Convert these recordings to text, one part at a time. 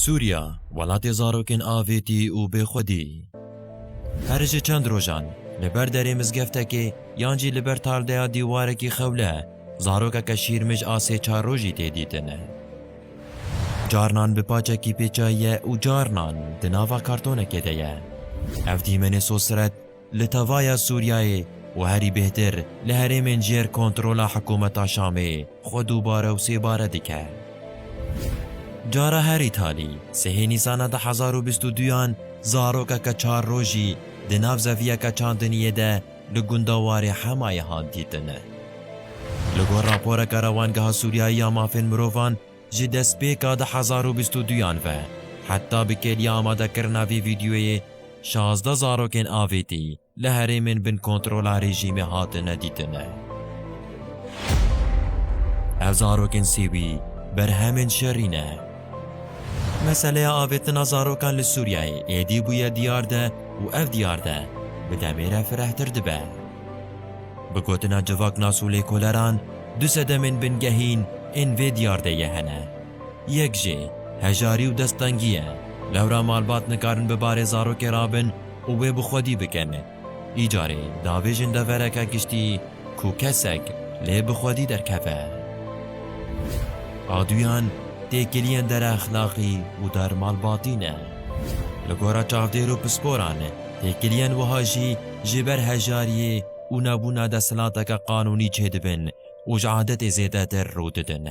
Sûriya, welatê zarokên avêtî û bêxwedî. Her ji çend rojan, li ber derê mizgeftekê yan jî li ber tardeya dîwarekî xewle, zarokeke şîrmij a sê çar rojî tê dîtin. Carinan bi paçekî pêçayiye û carinan di nava kartonekê de ye. Ev dîmenê sosret, Li tevaya Sûriyeyê û herî bêhtir li herêmên jêr kontrola hikûmeta Şamê xwe dubare û sêbare dike. Cara herî talî, sihê Nîsana du hezar û bîst û duyan zarokeke çar rojî di nav zeviyeke çandiniyê de li gunda warê Hemayê hat dîtin. Li gor raporeke Rewangeha Sûriyeyî ya Mafên Mirovan, Ji destpêka du hezar û bîst û duyan ve heta bi kêliya amadekirina vê vîdeoyê şazdeh zarokên avêtî li herêmên bin kontrola rejîmê hatine dîtin. Ev zarokên sêwî berhemên şerî ne. Meseleya avêtina zarokan li Sûriyeyê êdî bûye diyar de û ev diyar de bi demê re firehtir dibe. Bi gotina civak nas û lêkoleran Du sedemên bingehîn ên vê diyardeyê hene. Yek jê, hejarî û desttengî ye. Lewra malbat nikarin bi barê zarokê re bin û wê bi xwedî bikin. Îcarê davêjin devereke giştî ku kesek lê bi xwedî derkeve. A duyan, têkiliyên dereexlaqî û dermalbatî ne. Li gora çavdêr û pisporan, têkiliyên wiha jî ji ber hejariyê, û nebûna desthilateke qanûnî çêdibin û ji adetê zêdetir rû didin.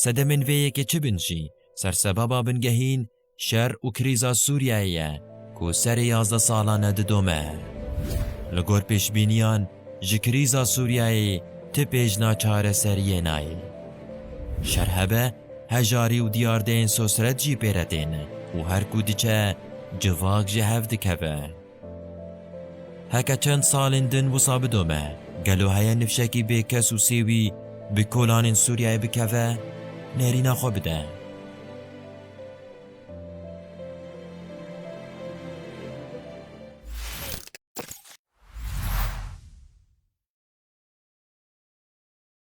Sedemên vê yekê çi bin jî, sersebaba bingehîn şer û krîza Sûriyeyê ye ku serê yazdeh salan e didome. Li gor pêşbîniyan ji krîza Sûriyeyê ti pêjna çareseriyê nayê. Şer hebe hejarî û diyardeyên sosret jî pê re tên û her ku diçe civak ji hev dikeve. Heke çend salên din wisa bidome, gelo heye nifşekî bê kes û sêwî bi kolanên Sûriyeyê bikeve, nerîna xwe bide?